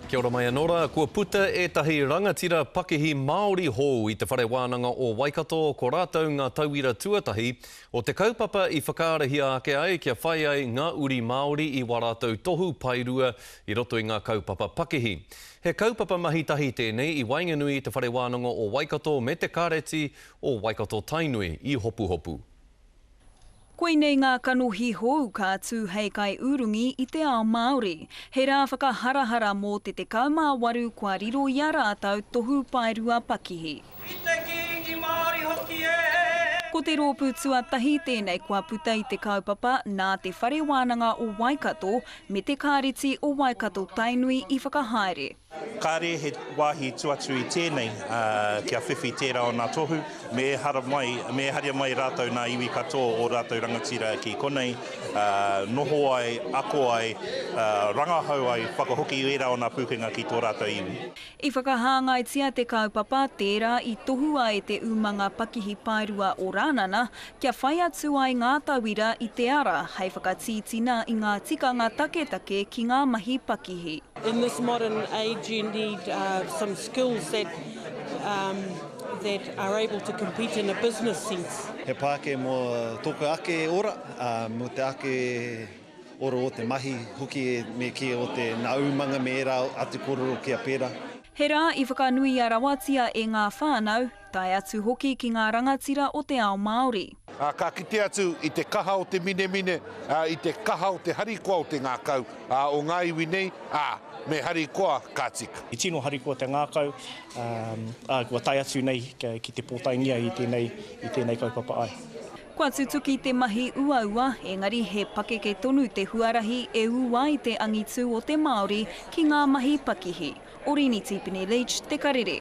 Kia ora mai anō rā, kua puta ētahi rangatira pakihi Māori hou i te Whare Wānanga o Waikato, ko rātou ngā tauira tuatahi o te kaupapa i whakaarahia ake ai kia whai ai ngā uri Māori i wā rātou tohu paerua i roto i ngā kaupapa pakihi. He kaupapa mahi tahi tēnei i waenganui i te Whare Wānanga o Waikato me te Kāreti o Waikato-Tainui i Hopuhopu. Koinei ngā kanohi hou ka tū hei kaiurungi i te ao Māori. He rā whakaharahara mō te 18 kua riro i a rātou tohu paerua pakihi. I te Kīngi Māori hoki e! Ko te rōpū tuatahi tēnei kua puta i te kaupapa nā Te Whare Wānanga o Waikato me Te Kāreti o Waikato-Tainui i whakahaere. Kāre he wāhi tū atu i tēnei kia whiwhi tērā o nā tohu, me ehara mai, me eharia mai rātou nā iwi katoa o rātou rangatira ki konei, noho ai, ako ai, rangahau ai, whakahoki ērā o nā pūkenga ki tō rātou iwi. I whakahāngaitia te kaupapa tērā i tohua e te umanga pakihi paerua o Rānana Kia whai atu ai ngā tauira i te ara hei whakatītina i ngā tikanga taketake ki ngā mahi pakihi. In this modern age you need some skills that that are able to compete in a business sense. He pāke mō tōku ake ora, ā, mō te ake ora o te mahi hoki me kī o te nā umanga me ērā atu kōrero kia pērā. He rā i whakanuia rawatia e ngā whānau, Tae atu hoki ki ngā rangatira o te ao Māori. Ā, ka kite atu i te kaha o te minemine, ā, i te kaha o te harikoa o te ngākau, ā, o ngā iwi nei, ā, me harikoa ka tika. He tino harikoa te ngākau, ā, ā, kua tae atu nei ki te pōtaengia i tēnei, i tēnei kaupapa ai. Kua tutuki te mahi uaua, engari he pakeke tonu te huarahi e ū ai te angitū o te Māori ki ngā mahi pakihi. Orini Tipene Leach, Te Karere.